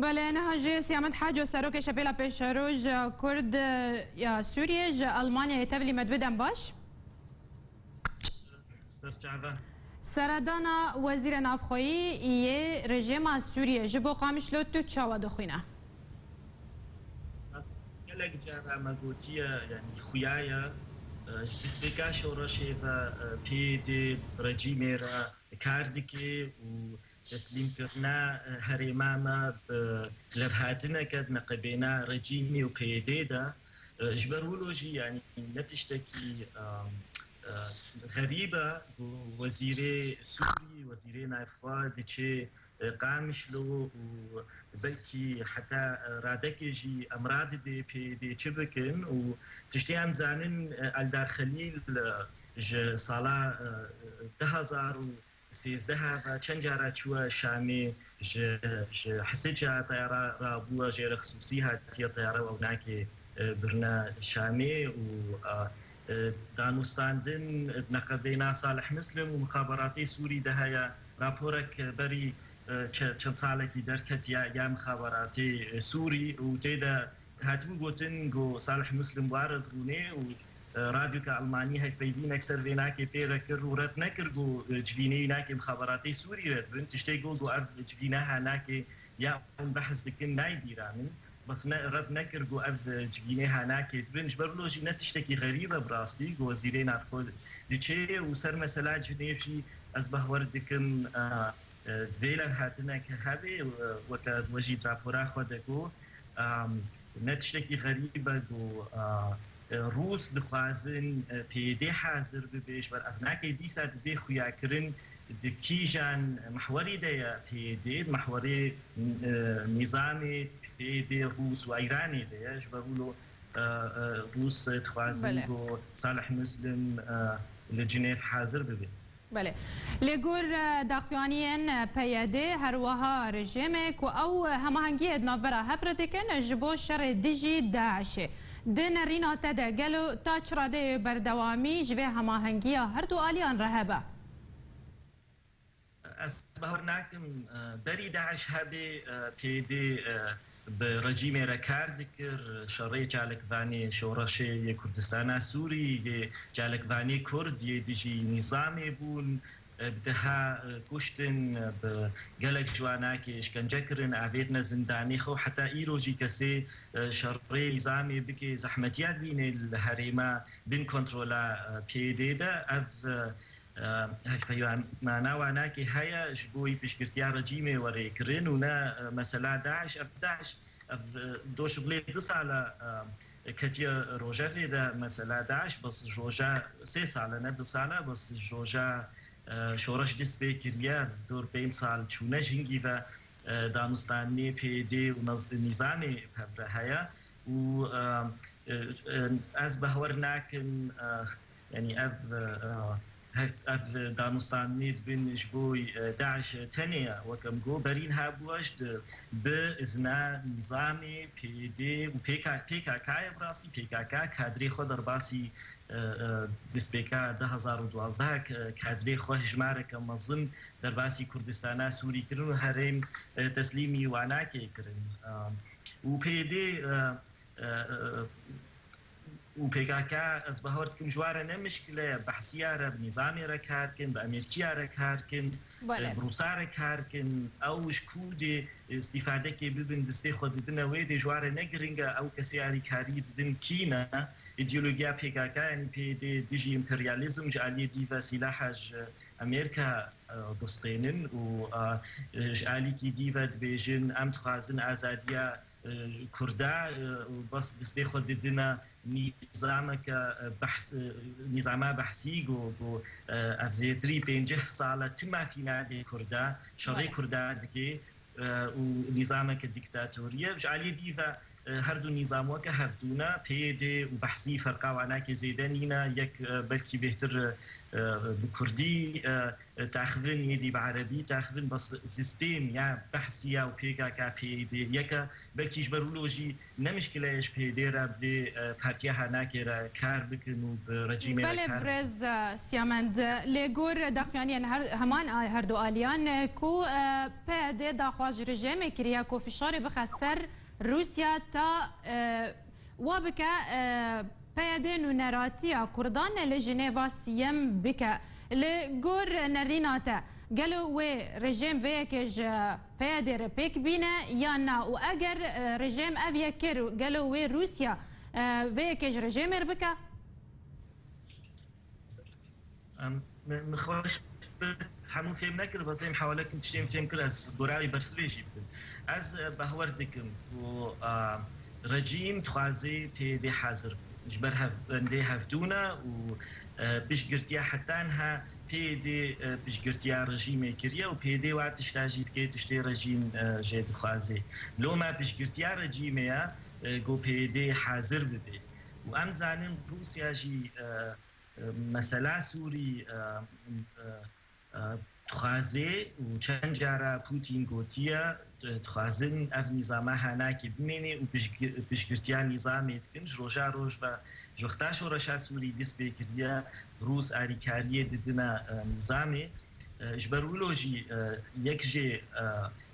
Belê, niha jî Siyamet Haco Serokê Şepêla Pêşeroja Kurd ya Sûriyê ji Elmanyayê tevlî me dibe dem baş. Seredana Wezîrê Navxweyî yê rejêma Sûriyê ji bo Qamişlo tu çawa dixwîne? Ez gelek caran me gotiye yanî xuya ye ji destpêka şoreşê ve PYD rejîmê re kar dike û Teslîmkirina herêma me bi levhatineke neqebêna rejîmê û peyedê de ji ber wilo jî yanî ne tiştekî xerîb e ku wezîrê Sûrî, wezîrê navxwe diçe Qamişlo û belkî heta radekê jî emra dide peyedê çi bikin û tiştê em dizanin Eldar Xelîl ji sala du hezar û Sêzdeh ava çend cara çûye Şamê, ji ji Hisica teyara rabûye jê re xisûsî hatiye teyara wewnakê birine Şamê û danûstandin bi neqedeyna Salih Muslim û mixaberatê Sûrî de heye. Raporek berî çend salekî derketiye ya mixaberatê Sûrî û tê de Hatibû gotin ku Salih Muslim ware dirûnê û radyoka Elmanî hevpeyvînek ser vê nakê pê re kir û red nekir ku civînê îna kêm xebaratê Sûrî re dibin. Tiştê got ku ev civîneha nakê ya hûn behs dikin nayê bîranin. Bes ne red nekir ku ev civînêha nakê dibin. Ji ber wilo jî ne tiştekî xerîb e bi rastî ku wezîrê navxwe diçê û ser mesela cinêv jî ez behwer dikim Divê lan hatinek hebe û weke we jî rapora xwe de got ne tiştekî xerîb e ku Rûs dixwazin peyedê hazir bibe ji ber ev nake dîsa divê xuyakirin di kîjan mehwerî de ye peyedê di mehwerê nîzamê peyedê Rûs û Îranê de ye ji ber wilo Rûs dixwazin ku Salih Muslim li Cinêv hazir bibe. Belê. Li gor daxuyaniyên PYD her wiha rejîmê ku ew hemahengiyê di navbera hev re dikin ji bo şerê dijî DAIŞ'ê. Di nerîna te de gelo ta çi radeyê berdewamî ji vê hemahengiya her du aliyan re hebe? Ez bawer nakim berî DAIŞ hebê, PYD bi rejîmê re kar dikir, şerê çalakvanê Şoreşê yê Kurdistana Sûrî yê çalakvanê Kurd yê dijî nîzamê bûn, bi deha kuştin, bi gelek ji wan akê îşkence kirin, avêtine zindanê xwe û heta îro jî kesê şerê nîzamê bikê zehmetiya dibînê li herêma bin kontrola PYD de ev Hevpeyiwan mana wanakê heye ji bo wî piştgirtiya rejîmê were kirin û ne mesela DAIŞ. Ev DAIŞ ev doş bilê du sal e ketiye rojevê de. Mesela DAIŞ bes ji roja sê sal e ne du sal e. Bes ji roja şoreş dest pê kiriye dor pênc sal çûne jingî ve. Danostanînê PYD û nîzamê hev re heye û ez behwer nakim Yanî ev ev danûstandinê dibin ji bo DAIŞ tenê ye. Wek em got berîn hebû ji di bi izna nîzamê PYD û PKK ye. Bi rastî PKK kadrê xwe derbasî destpêka du hezar û duwazdeh kadrê xwe hejmareke mezin derbasî Kurdistana Sûrî kirin û herêm teslîmî Wanakê kirin û PYD û pkk, ez bawer dikim ji wan re ne mişkile ye, behsîya re bi nîzamê re kar bikin, bi emerkîya re kar bikin, bi rûsa re kar bikin, ew ji ku dê îstîfadekê bibin distê xwe didine wê dê ji wan re ne girîng e, ew kesê alîkarî didin kî ne? Îdeologîya pkk yanî PYD dijî împeryalîzm ji alîyê dî ve sîlaha ji emerka distênin û ji alîkî dî ve dibêjin em dixwazin azadîya Kurda û bes bi stê xwe didine nîzameke behs nîzama behsî go go ev zêtirî pênceh sal e ti mafî nade Kurda şerê Kurda dike û nîzameke dîktatorî ye ji aliyê dî ve her du nîzam weke hev dû ne PYD û behsî ferqa wana ke zêde nîne yek belkî bêhtir bi Kurdî Texvin êdî bi erebî texvin be sîstêm ye behsî ye û pkk PYD yeke. Belkî ji ber wilo jî ne mişkile ye ji PYD re bi vê partiya HNKê re kar bikin û bi rejîmê re kar bikin. Belê birêz Siyamend, lê gor daxuyaniyên heman her du aliyan e ku PYD daxwaz ji rijêmê kiriye ku fişarê bixe ser Rûsya ta Wa bike PYD nûneratiya Kurdan li Jinêva Sîyem bike. Li gor nerîna te, gelo wê rejêm vê yekê ji PYDê re pêk bîne yan na û eger rejêm ev yek kir gelo wê Rûsya vê yekê ji rejêmê re bike? Min xweş hemû fêm nekir bazê em hewalekim tiştên fêm kir ez gorayê bersivê jî bikim. Ez behwer dikim ku rejîm dixwazê pê bê hezir bû ji ber hev bendê hevdûna û piştgirtiya hetanh pê dê piştgirtiya rejîmê kiriye û pê dê wa tişta jî dike tiştê rejîm jê dixwazê. Loma piştgirtiya rejîmê ye ku pê dê hezir bibê. û em zanîn Rûsya jî mesela Sûrî dixwaze û çend cara Pûtîn gotiye dixwazin ev nîzama hanakê bimêne û piştgirtiya nîzamê dikin. Ji roja roj ve ji wexta şoreşa Sûrî dist pê kiriye Rûs alîkariyê didine nîzamê. Ji ber wilo jî yek jê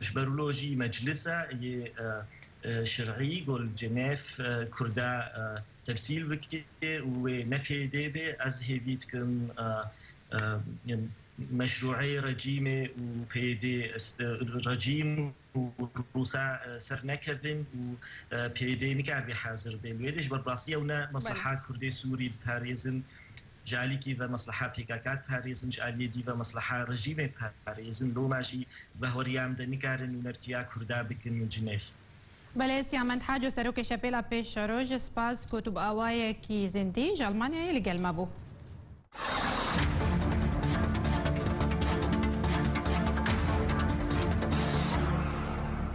Ji ber wilo jî meclisa yê şerî ku li Cenêf Kurda temsîl bike û wê ne pêdê be, ez hêvî dikim meşrûeyê rejîmê û pêdê rejîm û Rûsa ser nekevin û pêdê nikaribe hazir be. Li wê de ji ber bi rastî ew ne mesleha Kurdê Sûrî diparêzin Ji alî kî ve mesleha pkk diparêzin, ji aliyê dî ve mesleha rejîmê diparêzin. Loma jî bi horiya min de nikarin nûnertiya Kurda bikin û cinêx. Belê Siyamend Haco Serokê Şepêla Pêşeroj Spas ku tu bi awayekî zindî ji Elmanyayê li gel me bû.